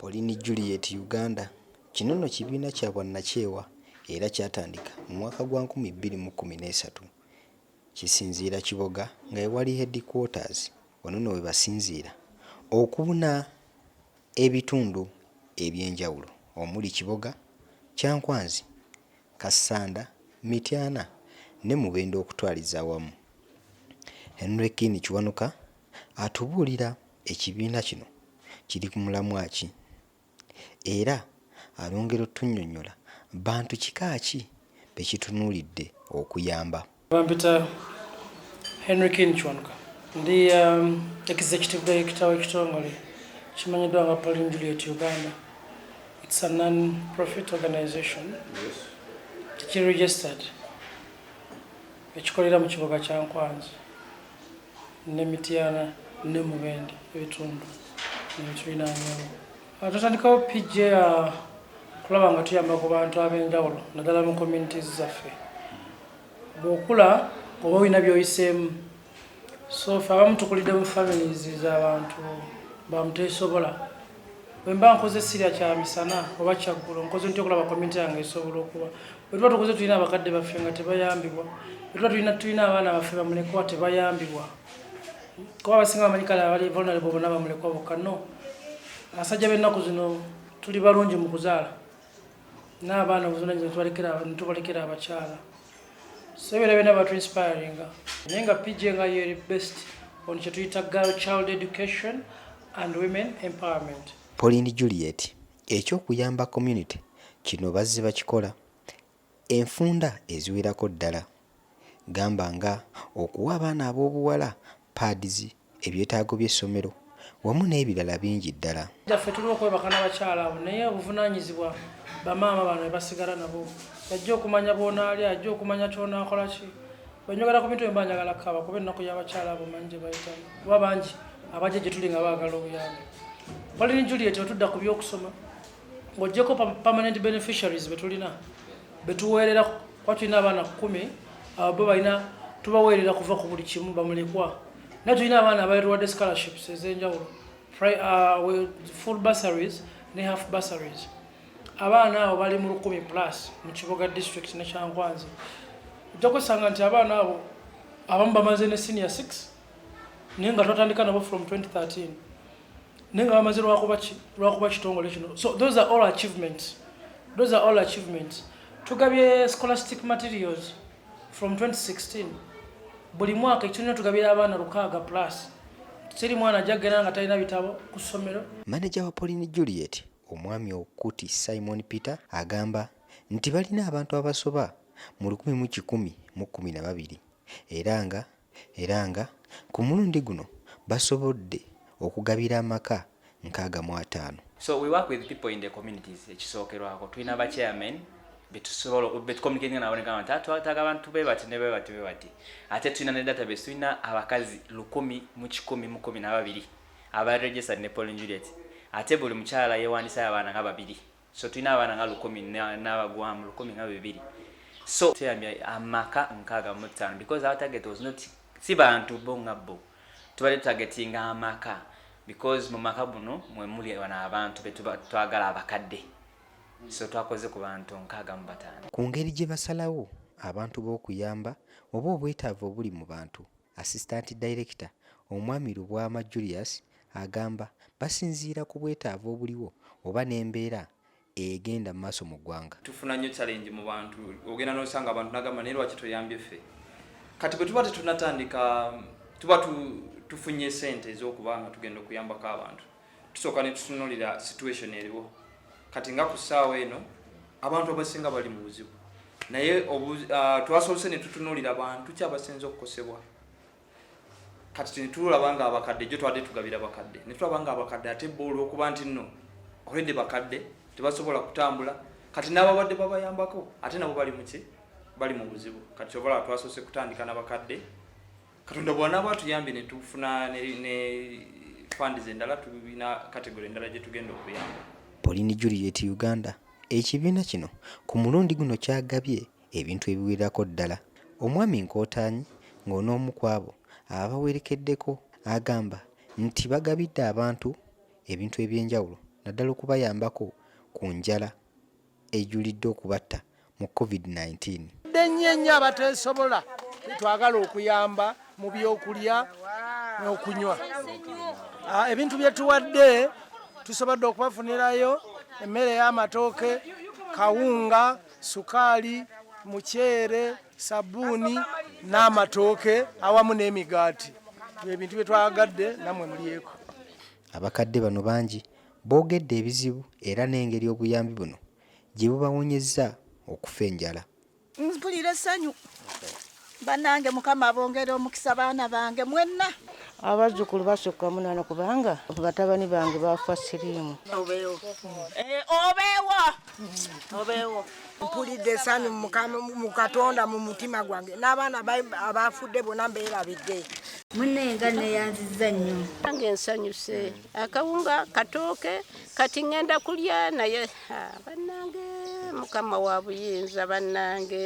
Pauline Juliet Uganda Kino nno kibiina kya bwannakyewa era kyatandika mu mwaka gwa nkumi bbiri mu kkumi n'esatu. Kisinziira Kiboga nga ewali headquarters wano nno we basinziira okubuna ebitundu eby'enjawulo omuli Kiboga, Kyankwanzi, Kassanda, Mityana ne Mubende okutwaliza awamu. Henry Kin Kiwanuka atubuulira ekibiina kino kiri ku mulamwa ki era ayongera otunnyonnyola bantu kika ki be kitunuulidde okuyamba. Bampita Henry King Kiwanuka ndi um, executive director w'ekitongole kimanyiddwa nga Pauline Juliet Uganda. It's a non-profit organization tekiregistered ekikolera mu kibuga kya Nkwanzi ne Mityana ne Mubende ebitundu nebitulinaanyewo. Ah, tutandikawo PJ uh, kulaba nga tuyamba ku bantu ab'enjawulo naddala mu communities zaffe. bw'okula oba olina by'oyiseemu so fe abamu tukulidde mu families z'abantu bamuteesobola bwe mba nkoze sirya kya misana oba kyaggulo nkoze ntya okulaba community yange esobola okuba bwe tuba tukoze tulina abakadde baffe nga tebayambibwa bwe tuba tulina tulina abaana baffe bamulekwa tebayambibwa kuba abasinga bamanyi kale abali vulnerable bona bamulekwa bokka no abasajja b'ennaku zino tuli balungi mu kuzaala n'abaana obuvunanyizibwa netubalekera abakyala so ebyo byona batu inspiringa naye nga pj nga yeri best on kyetuyita girl child education and women empowerment pauline juliet ekyokuyamba community kino bazze bakikola Enfunda eziwerako ddala gamba nga okuwa abaana ab'obuwala pads, ebyetaago by'essomero wamu n'ebirala bingi ddala. Gyaffe tuli okwebaka nabakyala abo naye obuvunanyizibwa ba maama bano bebasigala nabo yajja okumanya bwonaalya yajja okumanya kyonakola ki bwenjogera kubintu ebyo mba njagala kukaaba kuba ennaku yabakyala abo manyi gyebayitamu kuba bangi abajja gyetuli nga bagala obuyambi Pauline Juliet wetudda kubyokusoma ng'ogyeko permanent beneficiaries betulina betuweerera kuba tulina abaana kumi abo bo balina tubaweerera kuva ku buli kimu bamulekwa naye tulina abaana abaetuwadde scholarships ez'enjawulo uh, full bursaries ne half bursaries abaana abo bali mu lukumi plus mu kibuga district ne kyankwanzi ojja kwesanga nti abaana abo abamu bamaze ne senior 6 naye nga twatandika nabo from 2013 naye nga bamaze lwakuba kitongole kino so those are all achievements those are all achievements tugabye scholastic materials from 2016 buli mwaka ekitulina tugabira abaana lukaaga plus siri mwana ajja kugenda nga talina bitabo ku ssomero maneja wa pauline juliet omwami okuti simon peter agamba nti balina abantu abasoba mu lukumi mu kikumi mu kkumi na babiri era nga era nga ku mulundi guno basobodde okugabira amaka nkaaga mu ataano. So we work with people in the communities ekisookerwako tulina ba chairmen betusobola betucommunicatinga nabo negamba nti twataaga abantu bebati ne bebati bebati ate tulina ne database tulina abakazi lukumi mu kikumi mu kumi nababiri aba registered ne Paul Juliet ate buli mukyala yewandisayo abaana nga babiri so tulina abaana nga lukumi n'abagwamu lukumi nga bibiri so tuyambye amaka nkaaga mu ttaano because our target was not si bantu bo nga bo tubadde tutagetinga amaka because mu maka buno mwe muli bano abantu be twagala abakadde so twakoze ku bantu nkaaga mu bataano ku ngeri gye basalawo abantu b'okuyamba oba obwetaavu obuli mu bantu assistant director omwami lubwama julius agamba basinziira ku bwetaavu obuliwo oba n'embeera egenda mu maaso mu ggwanga. Tufuna nnyo challenge mu bantu ogenda n'osanga abantu nagamba naye lwaki toyambye ffe kati bwe tuba tetunatandika tuba tu, tufunye sente ez'okuba nga tugenda okuyambako abantu tusooka ne tutunulira situation eriwo kati nga ku ssaawa eno abantu abasinga bali mu buzibu naye uh, twasoose ne tutunulira bantu ki abasinze okukosebwa kati tenitulaba nga abakadde jo twade tugabira bakadde netulaba nga abakadde ate bo olwokuba nti nno oredi bakadde tebasobola kutambula kati n'ababadde babayambako ate nabo bali muki bali mu buzibu kati kyovala twasoose kutandika nabakadde katonda bwanaaba atuyambye netufuna ne fandizi endala tulina kategori endala gye tugenda okuyamba polini juliet uganda ekibiina kino ku mulundi guno kyagabye ebintu ebiwererako ddala. Omwami Nkootaanyi ng'onoomu kwabo ababawerekeddeko agamba nti bagabidde abantu ebintu eby'enjawulo naddala okubayambako ku njala ejulidde okubatta mu Covid nineteen. Tubadde nnyo ennyo abateesobola betwagala okuyamba mu by'okulya n'okunywa. Ebintu bye tuwadde tusobodde okubafunirayo emmere y'amatooke, kawunga, sukaali, muceere, sabbuuni n'amatooke awamu n'emigaati byebintu bye twagadde namwe mulyeko. Abakadde bano bangi boogedde ebizibu era n'engeri obuyambi buno gye bubawonyezza okufa enjala. Mpulira essanyu banange mukama abongere omukisa baana bange mwenna abazzukulu basukka munana kubanga batabani bange bafa siriimu obeewo eh, obeewo obeewo mpulidde essanyu mu katonda mu mutima gwange n'abaana abaafudde bona mbeerabidde munne nga neyanziza nnyo nange nsanyuse akawunga katooke kati ŋŋenda kulya naye bannange mukama wa buyinza bannange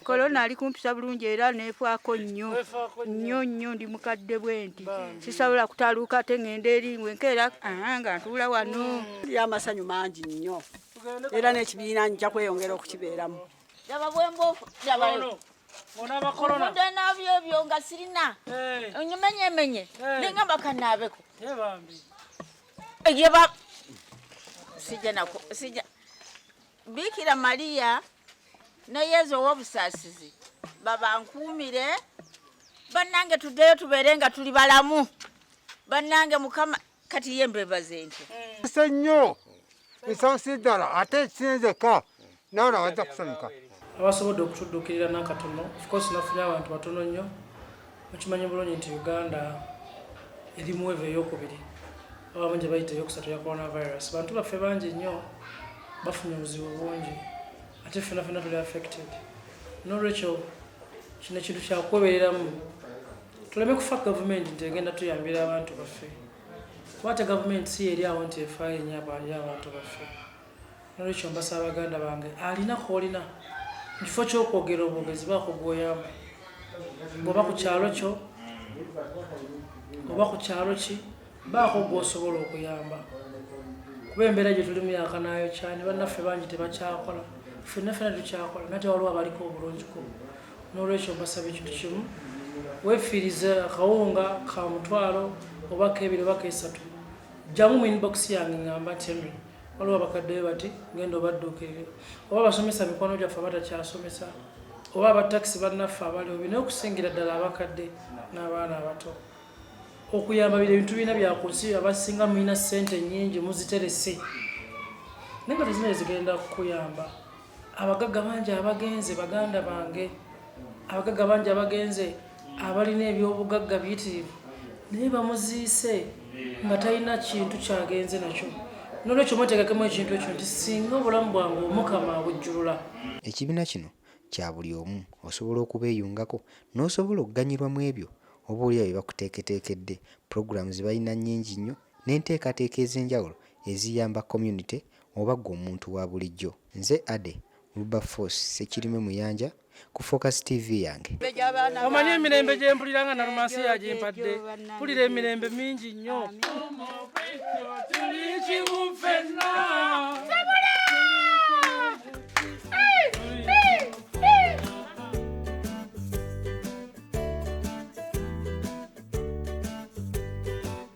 kolona ali kumpisa bulungi era nefaako nnyo nnyo nnyo ndi mukadde bwenti sisobola kutaluuka ate ngenda eri ngwe nkeera nga ntuula wano hmm. ya amasanyu mangi nnyo era n'ekibiina nja kweyongera okukibeeramu nabyo ebyo nga sirina eh. onyimenyemenye eh. ninga bakanaabeko eh, sija nako sija Bikira Maria ne Yezu ow'obusaasizi babankuumire bannange tuddeyo tubeere nga tuli balamu bannange mukama kati ye mbebaze ntyo se nnyo nsonsi ddala ate ekinzeka nawe nawajja kusanyuka abasobodde okutuddukirira nakatono ofcourse nafunye abantu batono nnyo Mukimanyi bulungi nti Uganda eri mu wave eyokubiri abamu gye bayita eyokusatu ya coronavirus. Bantu baffe bangi nnyo bafunye obuzibu bungi ate ffena fena tuli affected. N'olwekyo kino kintu kyakwebereramu tuleme kufa gavumenti nti egenda tuyambira abantu baffe kuba ate gavumenti si yeri awo nti efaayo nnyo abantu baffe. nolwekyo mbasaba baganda bange alina kolina mukifo kyokwogera obwogezi bakugwoyamba ngoba ku kyalo kyo oba ku kyalo ki baako gwosobola okuyamba kuba embeera gye tulimu yakanayo kyani bannaffe bangi tebakyakola fenna fena tukyakola nate waliwo abaliko obulungiko nolwekyo mbasaba ekintu kimu wefiirize akawunga ka mutwalo oba kebiri oba kesatu jjamu mu inbox yange ngamba nti waliwo abakadde be bati genda obadduukirire oba abasomesa mikwano gyaffe abatakyasomesa oba abatakisi bannaffe abali obi naye okusingira ddala abakadde n'abaana abato okuyamba biri ebintu birina byaku nsi abasinga mulina ssente nnyingi muziterese naye nga tezina ezigenda kukuyamba abagagga bangi abagenze baganda bange abagagga bangi abagenze abalina ebyobugagga biyitirivu naye bamuziise nga talina kintu kyagenze nakyo nolwekyo mwetegekemu ekintu ekyo nti singa obulamu bwange omukama abujjulula ekibiina kino kya buli omu osobola okubeeyungako n'osobola okuganyirwa mu ebyo oba olya bye bakuteeketeekedde pulogulaamu ze balina nnyingi nnyo n'enteekateeka ez'enjawulo eziyamba community oba ggwe omuntu wa bulijjo. Nze Ade Wilberforce Ssekirime Muyanja ku Focus TV yange. Omanyi emirembe gye mpulira nga Nalumansi yagimpadde, mpulira emirembe mingi nnyo.